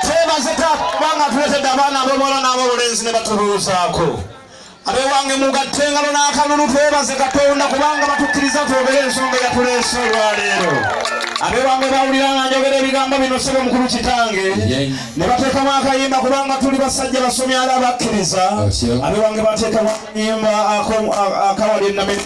twebaze taata kubanga atuletedde abaana ab'obuwala n'ab'obulenzi ne batubuuzaako abewange mugatte engalo n'akalulu twebaze katonda kubanga batukkiriza twogere ensonga yatuleese olwaleero abewange bawulira nga njogera ebigambo bino sebo mukulu kitange ne bateekamu akayimba kubanga tuli basajja basomi ala bakkiriza abewange bateekamu akayimba akawali enameri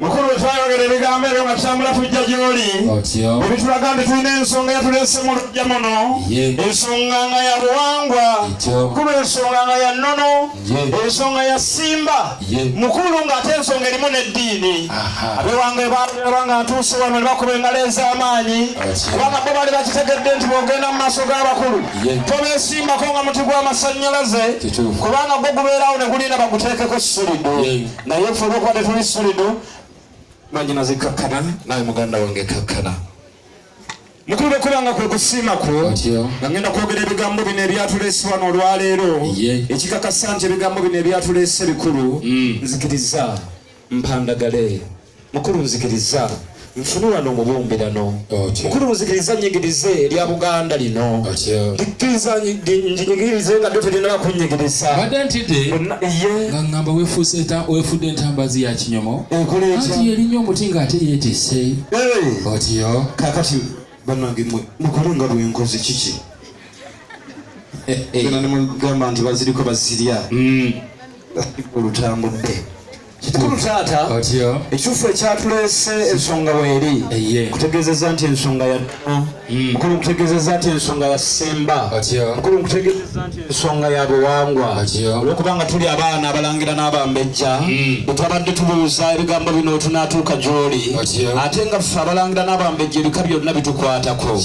mukulu wetwayogera ebigambo ebyo nga tutambula tujja gyoli ebitulaga nti tulina ensonga yatulese mu lujja muno ensonga nga ya buwangwa mukulu ensonga nga ya nnono ensonga ya simba mukulu ng'ate ensonga erimu n'eddiini abewange baalaba nga ntuuse wano ne bakuba engalo ez'amaanyi kubanga bo baali bakitegedde nti bwogenda mu maaso g'abakulu tobesimbako nga muti gw'amasannyalaze kubanga gwo gubeerawo ne gulinda baguteekeko sirido naye ffe olwokuba tetuli solido banyina zikakkana naye muganda wange kakkana mukulu okubanga kwe kusiima kwo nga ngenda kwogera ebigambo bino ebyatuleese wano olwaleero ekikakasa nti ebigambo bino ebyatuleese bikulu mm. nzikiriza mpandagale Mukulu nzikiriza nfune wano omubumbirano mukulu nzikiriza nyigirize erya buganda lino likkiriza njinyigirize nga dyo terina bakunyigiriza badde ntidde nga ngamba wefudde entambazi ya kinyomo anti yerinya omuti nga ate yetise otiyo kakati banange mwe mukole nga bwenkozi kiki gana nemugamba nti baziriko bazirya hmm. olutambudde kikulu taata ekituufu ekyatuleese ensonga weeri kutegeezeza nti ensonga ya hmm. mukulu nkutegeezeza nti ensonga ya simba mukulu nkutegeezeza nti ensonga ya buwangwa olwokubanga tuli abaana abalangira n'abambejja hmm. bwetwabadde tubuuza ebigambo bino tunaatuuka gyoli ate nga ffe abalangira n'abambejja ebika byonna bitukwatako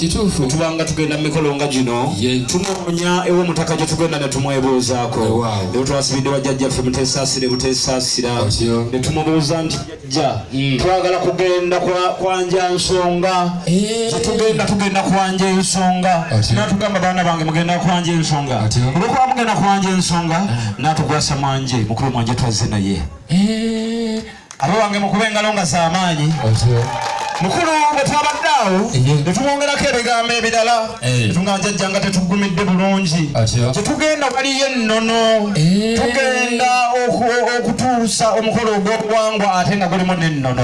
tubanga tugenda mu mikolo nga gino tunoonya ew'omutaka gye tugenda ne tumwebuuzaako twasibidde wa jjajjaffe muteesaasire buteesaasira ne tumubuuza nti jjajja hmm. twagala kugenda kwanja nsonga eh. tugenda tugenda kwanja ensonga natugamba baana bange mugenda kwanja ensonga olwokuba mugenda kwanja ensonga eh. natukwasa mwanje mukulu mwanje twazze naye eh. Abo wange mukube engalo nga z'amaanyi. Mukulu bwe twabadde awo ne tumwongerako ebigambo ebirala eh. tunga njajja nga tetuggumidde bulungi kye tugenda waliyo ennono eh. tugenda okutuusa omukolo ogw'obuwangwa ate nga gulimu n'ennono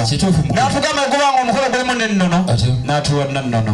n'atugamba ogubanga omukolo gulimu n'ennono n'atuwa nannono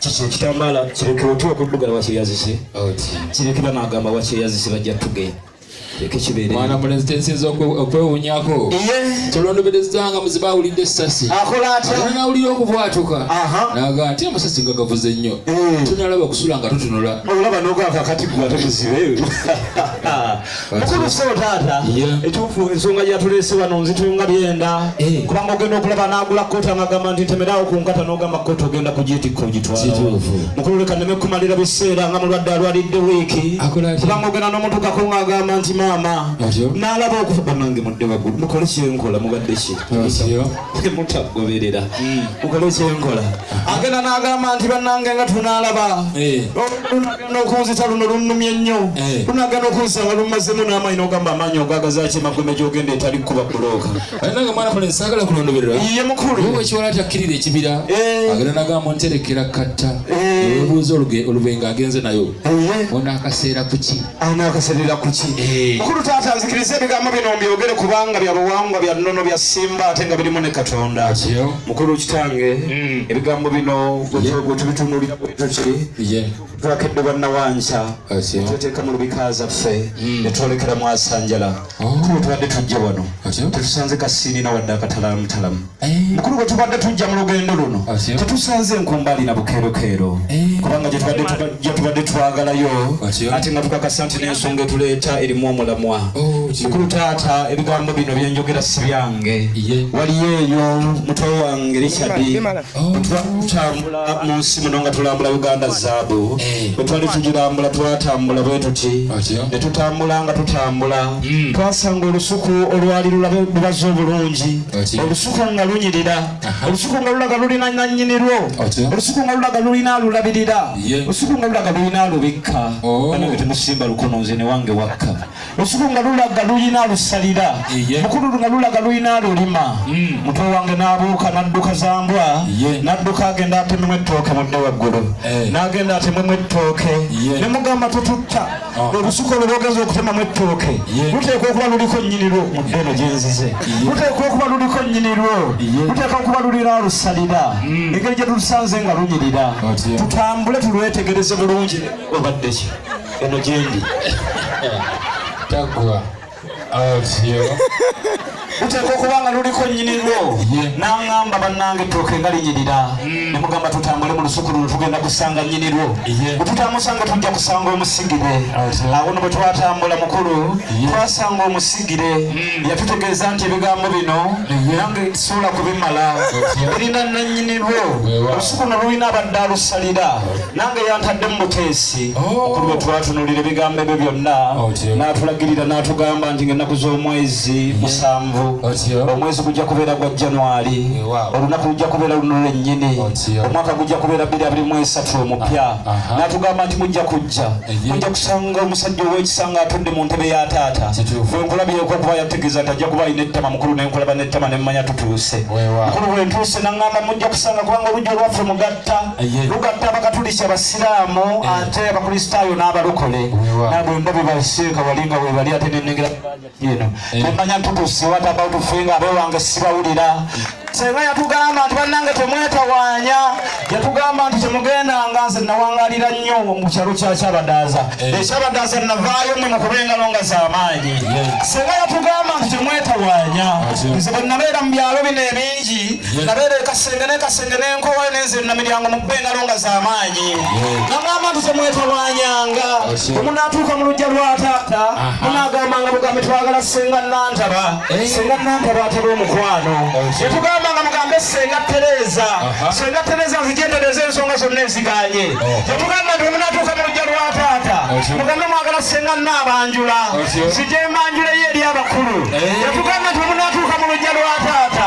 kiki ekitambaala kireke otu okuddugala wakyeyazise kireke banagamba wakyeyazise bajja tugenda mwana mulenzi tensinza okwewunyako tolondobereza nga muzibe awulidde esasi nawulira okubwatuka naga ati amasasi nga gavuze nnyo eh. tunalaba kusula nga tutunula mukulu sebo taata ekituufu ensonga gyatulese wano nzitunga byenda eh. kubanga ogenda okulaba nagula kooti amagamba nti ntemeraawo ku nkata n'ogamba kooti ogenda kugitikka ogitwalawo mukulu leka neme kumalira biseera nga mulwadde alwalidde wiiki kubanga ogenda n'omutukako ng'agamba nti maama n'alaba okufa banange mudde waggulu mukole kyenkola mubadde ki mutagoberera hmm. mukole kyenkola agenda n'agamba nti banange nga tunaalaba eh. n'okunzita luno lunnumye nnyo eh. lunaagana okunsanga lumazzemu n'amaanyi n'ogamba amaanyi ogagazaaki emagombe gy'ogenda etali kukuba kulooka nange mwana fale saagala kulondoberera ye mukulu ekiwala atakkirira ekibira eh. agenda nagamba nterekera katta eh. obuuza olubenga agenze nayo onaakaseera kuki anaakaseerera kuki mukulu taata nzikiriza ebigambo bino mbyogere kubanga bya buwangwa bya nnono bya simba ate nga birimu ne katonda mukulu kitange mm. ebigambo bino gwetubitunulira bwetuki twakedde bannawanca tweteeka mu lubika zaffe mm. netwolekera mwasanjala oh. mukulu tubadde tujja wano tetusanze kasiinina wadde akatalamutalamu eh. mukulu gwe tubadde tujja mu lugendo luno tetusanze nkumbaali na bukeerokeero eh. kubanga gyetubadde twagalayo ate nga tukakasa nti n'ensonga etuleeta erimu omulamwa oh, mukulu taata ebigambo bino byenjogera sibyange waliyo eyo mutwe wange richadi twatambula mu nsi muno nga tulambula uganda zaabu eh. bwe twali tugirambula twatambula bwe tuti ne tutambula nga tutambula hmm. twasanga olusuku olwali lulabe lubaza obulungi olusuku nga lunyirira olusuku nga lulaga lulina nanyini lwo olusuku nga lulaga lulina alulabirira olusuku nga lulaga lulina alubikka oh. banabe temusimba lukono nze newange wakka lusuku nga lulaga lulina lusalira mukulu nga lulaga lulina lulima hmm. mutwe wange nabuuka nadduka zambwa nadduka agenda atememu ettooke mudde waggulu eh. nagenda atememu ettooke ne mugamba tututta ah. olusuku olwo lwogeza okutemamu ettooke luteekwa okuba luliko nyinirwo mudde eno gyenzize luteekwa okuba luliko nyinirwo luteekwa okuba lulina lusalira hmm. engeri gye tulusanze nga lunyirira tutambule tulwetegereze bulungi obaddeki eno gyendi taggwa avyo luteeka okuba nga luliko nnyini lwo n'aŋŋamba bannange ettooke nga linyirira mm. ne mugamba tutambule mu lusuku luno tugenda kusanga nnyini lwo bwe tutamusanga tujja kusanga omusigire awo no bwe twatambula mukulu twasanga omusigire mm. yatutegeeza nti ebigambo bino nange sobola kubimala birina nannyini lwo olusuku no lulina abadde alusalira nange yantadde mu buteesi okuli bwe twatunulira ebigambo ebyo byonna n'atulagirira n'atugamba nti ng'ennaku z'omwezi musanvu omwezi gujja kubeera gwa januari olunaku lujja kubeera luno lwennyini omwaka gujja kubeera bbiri abiri mu esatu omupya n'atugamba nti mujja kujja mujja kusanga omusajja ow'ekisa nga atudde mu ntebe ya taata bwe nkulabyeko okuba yategeeza nti ajja kuba alina ettama mukulu ne nkulaba n'ettama ne mmanya tutuuse mukulu bwe ntuuse n'aŋŋamba mujja kusanga kubanga olujja olwaffe mugatta lugatta abakatuliki abasiraamu eh. ate abakristaayo n'abalokole nabwe mba bebasiika wali nga webali ate nenengera eno eh. nemanya ntutusi what about finga abe wange sibawulira senga yatugamba nti bannange temwetawaanya yatugamba nti temugenda nga nze nawangalira nnyo mu kyalo kya kyabadaaza eh. ekyabadaaza navaayo mwe mukubengalo nga zamaanyi senga yatugamba nti temwetawaanya nze bwe nabeera mu byalo bino ebingi nga beereeka senge ne kasenge n'enkowe n'enze namiryango mu kuba engalo nga z'amaanyi nagamba nti temwetawanyanga omunaatuuka mu lujja lwa taata munaagambanga bugambi twagala senga nantaba eh? senga nantaba ataba omukwano yetugambanga oh, mugambe senga tereeza senga tereeza nzijendereza ensonga zonna eziganye yetugamba oh. nti omunaatuuka mu lujja lwa taata oh, mugambe mwagala senga naabanjula nzije mbanjuleyo eri abakulu yetugamba eh? nti omunaatuuka mu lujja lwa taata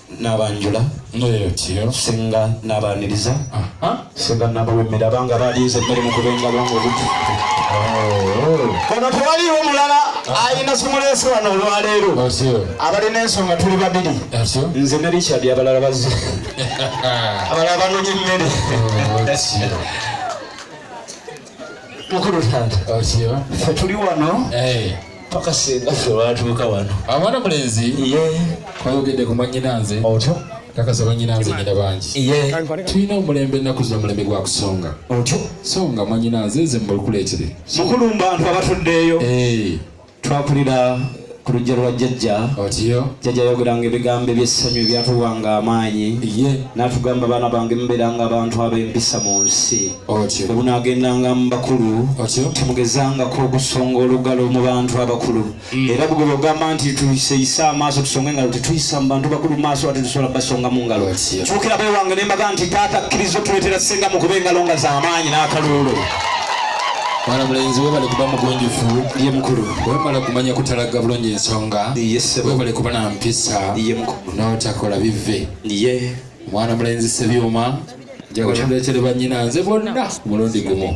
nabanjula singa nabaniriza singa nabawemera banga balinze emmere mukuba engalo nga obuti oh. ono tewaliwo mulala ayina simuleese wano olwaleero abalina ensonga tuli babiri nze ne richard abalala bazi abalala banonye emmere oh, mukulu taata fe tuli wano eh. paka singa fe watuuka wano abaana mulenzi kwayogedde ku mwanyinanze otyo kakasa banyinanze nyina bangi tulina omulembe ennaku zino omulembe gwa kusonga otyo songa mwanyinanze nze mubulikuleetere mukulu mbantu abatuddeeyo eh. twakulira ku lujja lwa jjajja otiyo jjajja yayogeranga ebigambo ebyessanyu ebyatuwanga amaanyi ye n'atugamba abaana bange mubeeranga abantu ab'empisa mu nsi otyo bwe bunaagendanga mu bakulu otyo temugezangako okusonga olugalo mu bantu abakulu mm. era bwe bwogamba nti tuyiseyise amaaso tusonga engalo tetuyisa mu bantu bakulu maaso ate tusobola basonga mu ngalo kyukira bewange ne mbaga nti taata kkiriza otuleetera senga mu kuba engalo nga z'amaanyi n'akaluulu bana mulenzi we bali kuba mugunjufu ye mukulu wemala kumanya kutalagga bulungi ensonga webale kuba na mpisa n'otakola bive mwana mulenzi sebyuma njakuleetere bannyina nze bonna mulundi gumu